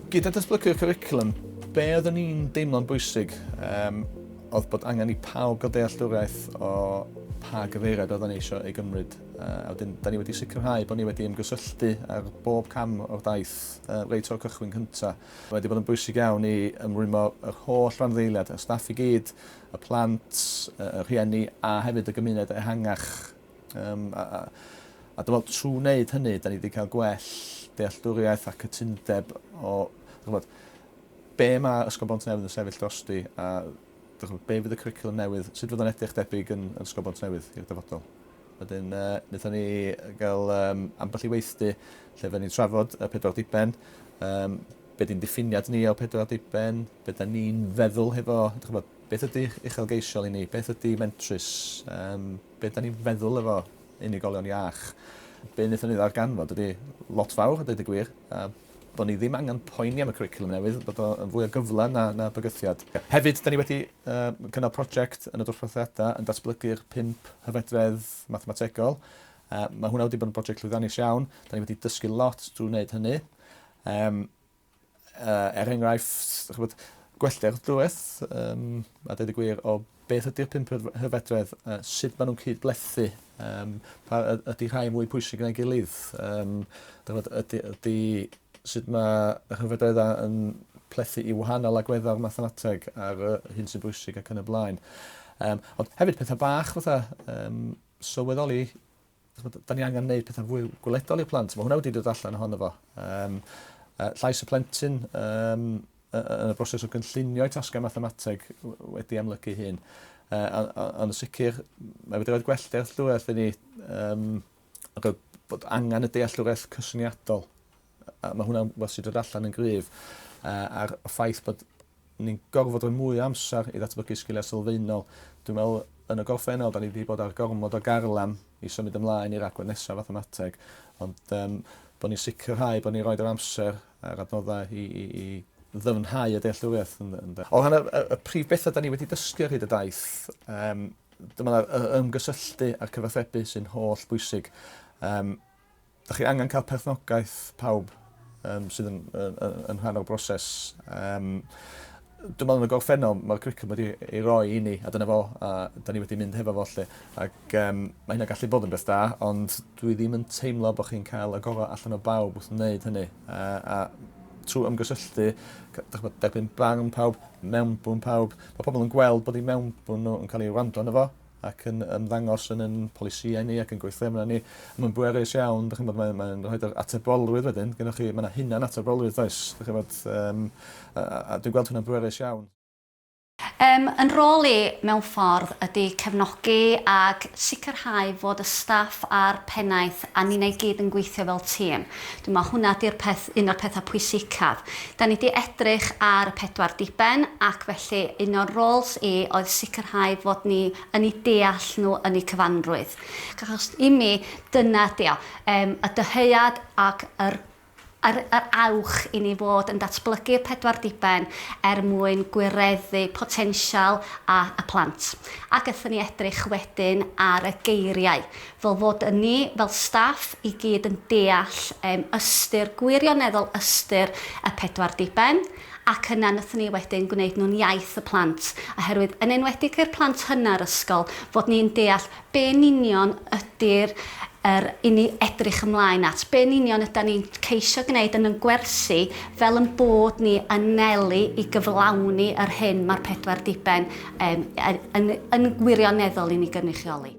Gyda datblygu'r cwricwlwm, be oeddwn ni'n deimlo'n bwysig um, oedd bod angen i pawb gael dealltwriaeth o pa gyfeiriad oeddwn ni eisiau ei gymryd. Uh, a wedyn, da ni wedi sicrhau bod ni wedi ymgysylltu ar bob cam o'r daith uh, reit o'r cychwyn cyntaf. Mae wedi bod yn bwysig iawn i ymrwymo yr holl randdeiliad, y staff i gyd, y plant, y rhieni a hefyd y gymuned ehangach Um, a, a, a dwi'n meddwl, trwy wneud hynny, da ni wedi cael gwell dealltwriaeth a cytundeb o, chymod, be mae Ysgol Bont Newydd yn sefyll drosti a chymod, be fydd y cwricwlwm newydd, sut fydd o'n edrych debyg yn, yn Ysgol Bont Newydd i'r dyfodol. Wedyn, uh, wnaethon ni gael um, ambell i weithdy lle fe ni'n trafod y pedwar diben, um, be di'n diffiniad ni o pedwar diben, be da ni'n feddwl hefo, chymod, beth ydy uchelgeisiol i ni, beth ydy mentrus, um, be' 'dan ni'n feddwl efo unigolion iach. Be' nethon ni ddarganfod ydi lot fawr a deud y gwir a bo' ni ddim angan poeni am y cwricwlwm newydd bod o yn fwy o gyfle na na bygythiad. Hefyd 'dan ni wedi yym cynnal project yn y dosbarthiada yn datblygu'r pump hyfedredd mathemategol. Yy ma' hwnna wedi bod yn broject llwyddiannus iawn. 'Dan ni wedi dysgu lot drw wneud hynny. Yym. Er enghraifft, gwelltir y dreth, a dweud y gwir, o beth ydy'r pump hyfedredd, sut maen nhw'n cyd-blethu, pa ydy rhai mwy pwysig na'i gilydd, ydy sut mae yr hyfedreddau yn plethu i wahanol agweddau o'r mathemateg ar hyn sy'n bwysig ac yn y blaen. Ond hefyd pethau bach fatha sylweddoli Ch'mod, 'dan ni angen neud petha'n fwy gweledol i'r plant. Ma' hwnna wedi dod allan ohono fo. Yym yy llais y plentyn yym y- y- yn y broses o gynllunio'i tasgau mathemateg w- wedi amlygu'i hun. Yy on- o- ond yn sicir mae wedi roid gwell dealltwriaeth i ni yym o be' bod angan y dealltwriaeth cyswniadol. A ma' hwnna'n wbath sy' 'di dod allan yn gryf yy a'r y ffaith bod ni'n gorfod rhoi mwy o amser i ddatblygu sgiliau sylfaenol. Dwi'n meddwl yn y gorffennol 'dan ni 'di bod ar gormod o garlam i symud ymlaen i'r agwedd nesa' fathemateg ond yym bo' ni'n sicrhau bo' ni'n rhoid yr amser a'r adnoddau i i i ddyfnhau y dealltwriaeth yn ynde? O ran y y y prif betha' 'dan ni wedi dysgu ar hyd y daith yym dyma 'na y ymgysylltu a'r cyfathrebu sy'n holl bwysig. Yym. Dych chi angen cael perchnogaeth pawb um, sydd yn, yn, yn, yn rhan o'r broses. Um, dwi'n meddwl yn y gorffennol, mae'r cricwm wedi ei roi i ni, a dyna fo, a da ni wedi mynd hefo fo lle. Ac um, mae hynna gallu bod yn beth da, ond dwi ddim yn teimlo bod chi'n cael y gorau allan o bawb wrth wneud hynny. Uh, a trwy ymgysylltu, derbyn barn pawb, mewnbwn pawb, mae pobl yn gweld bod ei mewnbwn nhw yn cael ei wrando yn efo, ac yn ymddangos yn ein polisïau ni ac yn gweithdrefnau ni. Mae'n bwerus iawn, dych chi'n bod, mae'n mae rhoi yr atebolrwydd wedyn, gyda chi, mae yna hunan atebolrwydd does, dych chi'n bod, um, a, a, a dwi'n gweld hwnna'n bwerus iawn. Um, yn rôl i, mewn ffordd, ydy cefnogi ac sicrhau fod y staff a'r pennaeth a ni'n ei gyd yn gweithio fel tîm. Dwi'n meddwl hwnna ydy'r peth un o'r pethau pwysicaf. Da ni 'di edrych ar y pedwar diben ac felly un o'n rôls i oedd sicrhau fod ni yn eu deall nhw yn eu cyfanrwydd. Ac achos i mi dyna ydy o, yym y dyhead ac yr yr yr awch i ni fod yn datblygu'r pedwar diben er mwyn gwireddu potensial a y plant. Ac aethon ni edrych wedyn ar y geiriau. fel fod yn ni fel staff i gyd yn deall yym ystyr, gwirioneddol ystyr y pedwar diben, ac yna nathon ni wedyn gwneud nhw'n iaith y plant, oherwydd yn enwedig i'r plant hynna yr ysgol, fod ni'n deall be yn union ydy'r yr i ni edrych ymlaen at, be yn union ydan ni'n ceisio gneud yn yn gwersi fel yn bod ni yn nelu i gyflawni yr hyn ma'r pedwar diben yym yn yn yn gwirioneddol i ni gynrychioli.